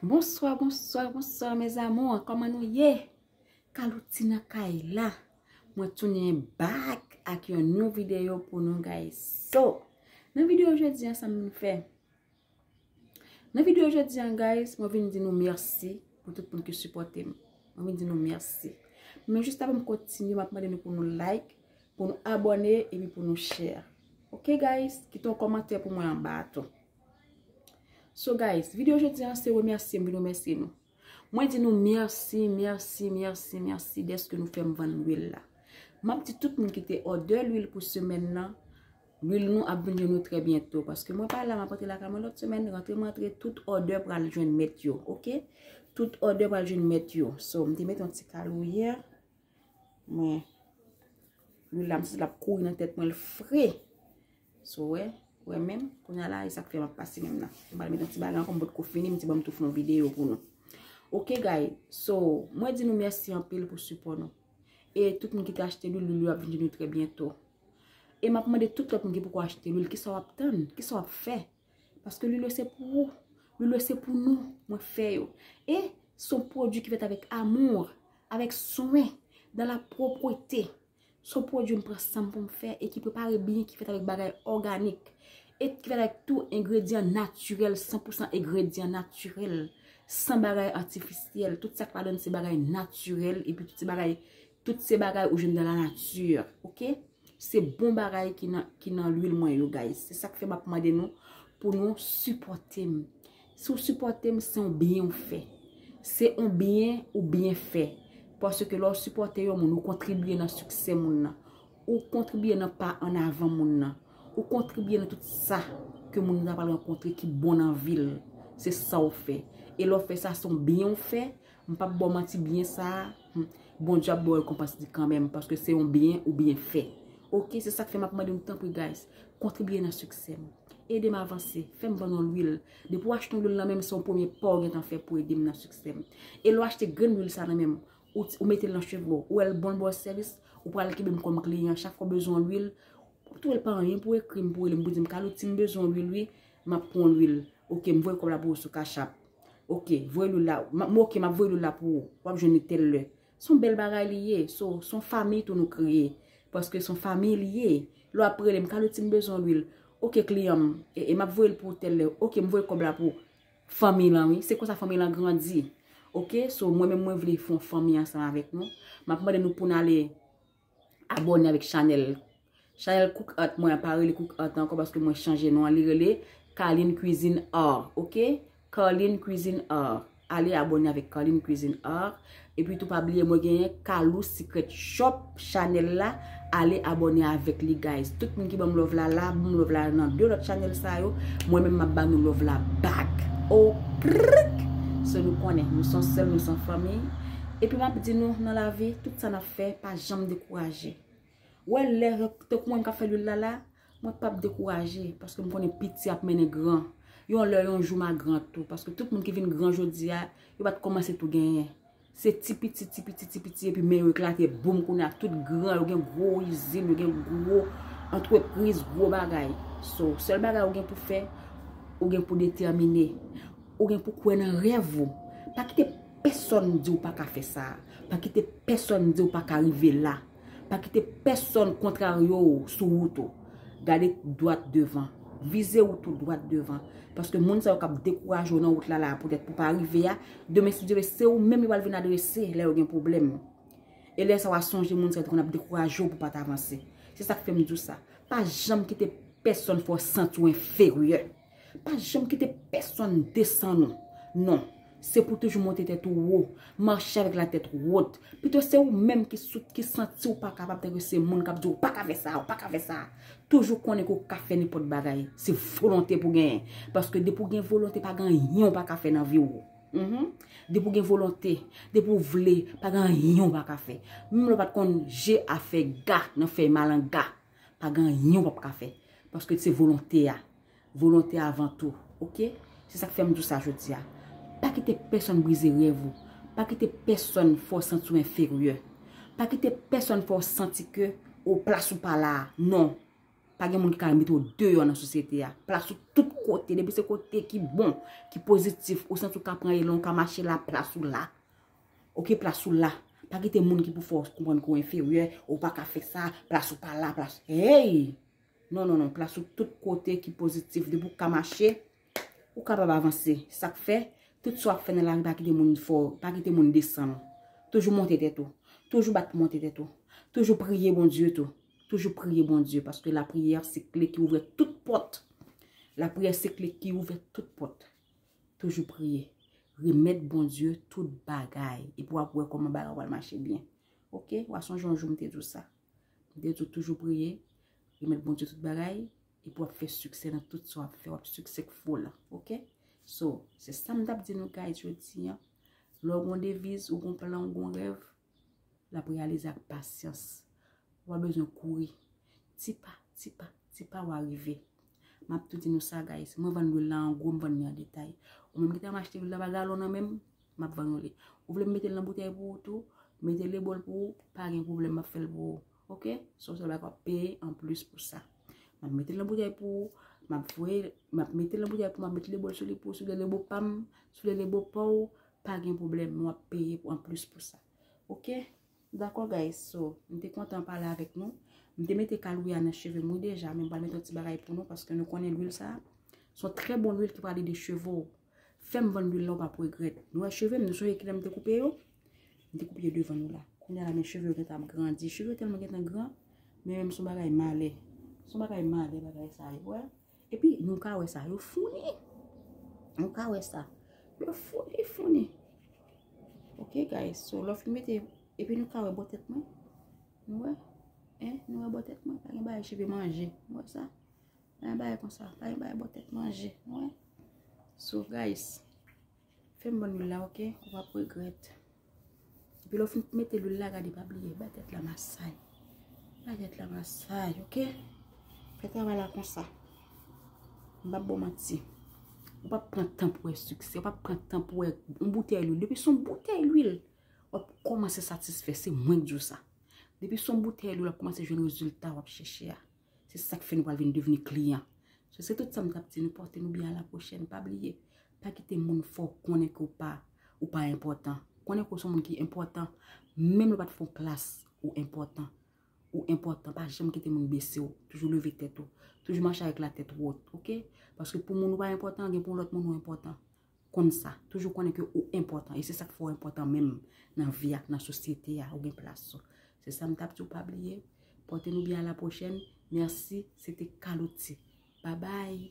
Bonswa, bonswa, bonswa mes amours, kòman nou ye? Kalouti nan kay la, mwen tounen back ak yon nou videyo pou nou guys. So, nan videyo jodi an sa mwen fè? Nan videyo jodi an guys, mwen vin di nou merci pou tout moun ki supporte m. Mwen vin di nou merci. Men juste avan m kontinye, mwen ap mande nou pou nou like, pou nou abone, epi pou nou share. Ok guys, kite yon kòmantè pou mwen anba a tou. So guys, video jodi an se remèsye m vin remèsye nou. Mwen di nou mèsi, mèsi, mèsi, mèsi deske nou fèm vann lwil la. M ap di tout moun ki te òdè lwil pou semèn nan, lwil nou ap vin jwenn nou trè byento. Paske mwen pa la, m ap antre lakay mwen lòt semèn, rantre m antre, tout òdè pral jwenn mèt yo, ok? Tout òdè pral jwenn mèt yo. So, m te met yon ti kal ou yè. Mwen. Lwil la m santi lap kouri nan tèt mwen l fre. So w wè. Ou wè menm. Kounya la e sak fè map pase menm nan. M pral met yon ti bagay ankò m potko fini m di banm tou fè yon videyo pou nou. Ok guys. So mwen di nou mèsi anpil pou sipò nou. E tout moun ki te achte lwil lwil yo ap vin jwenn nou trè byento. E map mande tout lòt moun ki poko achte lwil kisa wap tann? Kisa wap fè? Paske lilo se pou ou. Lilo se pou nou. Mwen fè yo. E son pwodwi ki fèt avèk amour. Avèk swen. Dan la pwopwete. Son pwodwi m pran san m pou m fè. E ki prepare byen. Ki fèt avèk bagay òganik. E ki fèt avèk tou engredyan natirèl. San pou san engredyan natirèl. San bagay atifisyèl. Tout sa k ladan se bagay natirèl. E pi tout se bagay. Tout se bagay ou jwenn dans la nature ok se bon bagay ki nan l'huile mwen yo guys se sak fè map mande nou pou nou sipotem si ou sipotem se yon byen ou fè se yon byen ou byen fè paske lè ou sipote yon moun ou kontribye nan siksè moun nan ou kontribye nan pa an avan moun nan ou kontribye nan tout sa ke moun nan ta pral rankontre ki bon nan vil se sa ou fè e lè ou fè sa se yon byen ou fè M pap baw manti byen sa a Bondye ap baw rekonpans li kanmenm paske se yon byen ou byen fè ok se sak fè map mande nou tanpri guys kontribye nan siksè m ede m avanse fè m vann yon lwil depi w achte yon lwil nan men m se yon premye pa w gentan fè pou ede m nan siksè m e lè w achte grenn lwil sa nan men m ou mete l nan cheve w ou wè l bon l ba w sèvis ou pral kenbe m kòm kliyan chak fwa w bezwen yon lwil w ap twouve l pa anyen pou w ekri m pou w rele m pou w di m Carlo ti m bezwen yon lwil wi map pran yon lwil ok m voye kòb la pou ou sou cash app. Ok, voye loul la. M ok, m ap voye loul la pou ou. W ap jwenn li tèl lè. S on bèl bagay li ye. So, s on fanmi tou nou kreye. Paske s on fanmi li ye. Lè w ap rele m, Kaloti m bezwen lwil. Ok kliyan m, e m ap voye l pou ou tèl lè. Ok, m voye kòb la pou fanmi lan wi. Se konsa fanmi lan grandi. Ok, so mwen menm mwen vle fon fanmi ansanm avèk nou. M ap mande nou pou n ale. Abone avèk chanèl Chanèl cook art mwen an pa rele cook art ankò paske mwen chanje non an li rele Carline cuisine art ok Carline cuisine art ale abone avèk Carline cuisine art epi tou pa bliye mwen genyen Carlou secret shop chanèl la ale abone avèk li guys tout moun ki banm love la la banm love la nan 2 lòt chanèl sa yo mwen menm map banou love la back oprrk se nou konnen nou son sèl nou son fanmiy epi map di nou nan lavi tout sa nap fè pa janm dekouraje. Wè lè tankou mwen kap fè lwil la la, mwen pap dekouraje paske m konnen piti ap mennen gran. Yon lè yon jou ma gran tou paske tout moun ki vin gran jodi a, yo pat kòmanse tou genyen. Se ti piti, ti piti, ti piti epi men yo eklate boum kounye a tout gran, yo gen gwo izin, yo gen gwo antrepriz, gwo bagay. So, sèl bagay ou gen pou fè, ou gen pou detèmine. Ou gen pou kwè nan rèv ou. Pa kite. pèsòn di w pa ka fè sa. Pa kite pèsòn di w pa ka rive la. Pa kite pèsòn kontrarye w sou wout ou. Gade dwat devan. Vize wout ou dwat devan. Paske moun sa yo k ap dekouraje w nan wout la la a poutèt pou w pa rive a, demen si Dye vle se ou menm yo pral vin adrese lè yo gen pwoblèm. E lè sa w a sonje moun sa yo te konn ap dekouraje w pou w pa t avanse. Se sa k fè m di w sa. Pa janm kite pèsòn fè w santi w enferyè. Pa janm kite pèsonn desann ou. Non, se pou toujou monte tèt ou wo, mache avèk la tèt wot. Pito se ou menm ki sou, ki santi ou pa kapab tanke se moun k ap di ou pa ka fè sa, ou pa ka fè sa. Toujou konnen ke ou ka fè nenpòt bagay. Se volonte pou genyen. Paske depi ou gen volonte pa gen anyen ou pa ka fè nan vi ou. Depi ou gen volonte, depi ou vle, pa gen anyen ou pa ka fè. Menm lè ou pa t konn je a fè ga nan fèy malanga. Pa gen anyen wap ka fè. Paske se volonte a. Volonte avan tou. Ok? Se sak fèm di w sa jodi a. Pa kite pèsòn brize rèv ou. Pa kite pèsòn fè w santi w enferyè. Pa kite pèsòn fè w santi ke ou plas ou pa la. Non. Pa gen moun ki ka mete w deyò nan sosyete a. Plas ou tout kote. Depi se kote ki bon. Ki pozitif. Ou santi w ka pran elan. Ou ka mache la. Plas ou la. Ok plas ou la. Pa kite moun ki pou fè w konprann ke w enferyè, ou pa ka fè sa, plas ou pa la, plas. Hey! Non, non, non, plas ou tout kote ki pozitif. Depi w ka mache, ou kapab avanse. Sa k fè, tout sa w ap fè nan lari pa kite moun fè w, pa kite moun desann ou. Toujou monte tèt ou. Toujou bat pou monte tèt ou. Toujou priye Bondye tou. Toujou priye Bondye paske lapriyè se kle ki ouvè tout pòt. Lapriyè se kle ki ouvè tout pòt. Toujou priye. Remèt Bondye tout bagay. E pou ap wè kòman bagay wal mache byen. Ok? Wa sonje yon jou m te di w sa. M te di w toujou priye. Remèt Bondye tout bagay. E pou ap fè siksè nan tout sa w ap fè. Wap siksè k fo la. Ok? So, se sa m tap di nou guys jodi an. Lè w gon deviz, ou gon plan, ou gon rèv. l ap reyalize ak pasyans. Ou pa bezwen kouri. Ti pa, ti pa, ti pa wa rive. M ap tou di nou sa guys, mwen vann lwil la an gwo, m vann li an detay. Ou menm ki ta machte lwil la pa galon nan menm, m ap vann ou li. Ou vle m mete l nan boutèy pou ou tou, mete l e bol pou ou, pa gen pwoblèm m ap fè l pou ou. Ok, se yon sèl bagay w ap peye an plis pou sa. M ap mete l nan boutèy pou ou, m ap voye, m ap mete l nan boutèy pou ou, m ap mete l e bol sou li pou ou, si w vle l e bo pa m, si w vle l e bo pa w, Pa gen pwoblèm nou ap peye pou anplis pou sa. Ok Dakò guys so m te kontan pale avèk nou. M te mete kalouri a nan cheve m wi deja men m pral mete yon ti bagay pou nou paske nou konnen lwil sa s on trè bon lwil ki pral ede cheve w. Fè m vann lwil la w pap regrèt. Nou wè cheve m nou sonje kilè m te koupe yo? M te koupe yo devan nou la. Kounya la men cheve yo gentan ap grandi. Cheve yo tèlman gentan gran men menm s on bagay malè. S on bagay malè bagay sa yo. Epi nou ka wè sa yo founi. Nou ka wè sa. Yo founi founi. Ok guys. So lò fin mete. Epi nou ka wè bò tèt mwen. Nou wè. Eh. Nou wè bò tèt mwen. Pa gen bagay cheve manje. Nou wè sa. Pa gen bagay konsa. Pa gen bagay bò tèt manje. Nou wè. So guys. Fè m ban lwil la ok ou pap regrèt. Epi lè w fin mete lwil la gade pa bliye bay tèt la masay. Bay tèt la masay ok. Fè travay la konsa. M pap ba w manti. Ou pap pran tan pou wè siksè. Ou pap pran tan pou wè yon boutèy lwil. Depi son boutèy lwil wap kòmanse satisfè se mwen k di w sa. Depi son boutèy lwil wap kòmanse jwenn rezilta wap chèche a. Se sak fè nou pral vin devni kliyan. So se tout sa m tap di nou pòte nou byen a la pwochèn pa bliye pa kite moun fè w konnen ke w pa ou pa enpòtan. Konnen ke w son moun ki enpòtan menm lè w pat fè yon klas ou enpòtan. Ou enpòtan pa janm kite moun bese w toujou leve tèt ou toujou mache avèk la tèt wot ok paske pou moun ou pa enpòtan gen pou yon lòt moun ou enpòtan. Konn sa. Toujou konnen ke ou enpòtan. E se sak fè ou enpòtan menm nan vi ak nan sosyete a. Ou gen plas ou. Se sa m tap di w pa bliye. Pòte nou byen a la pwochèn. Mèsi. Se te Carlotti. Babay.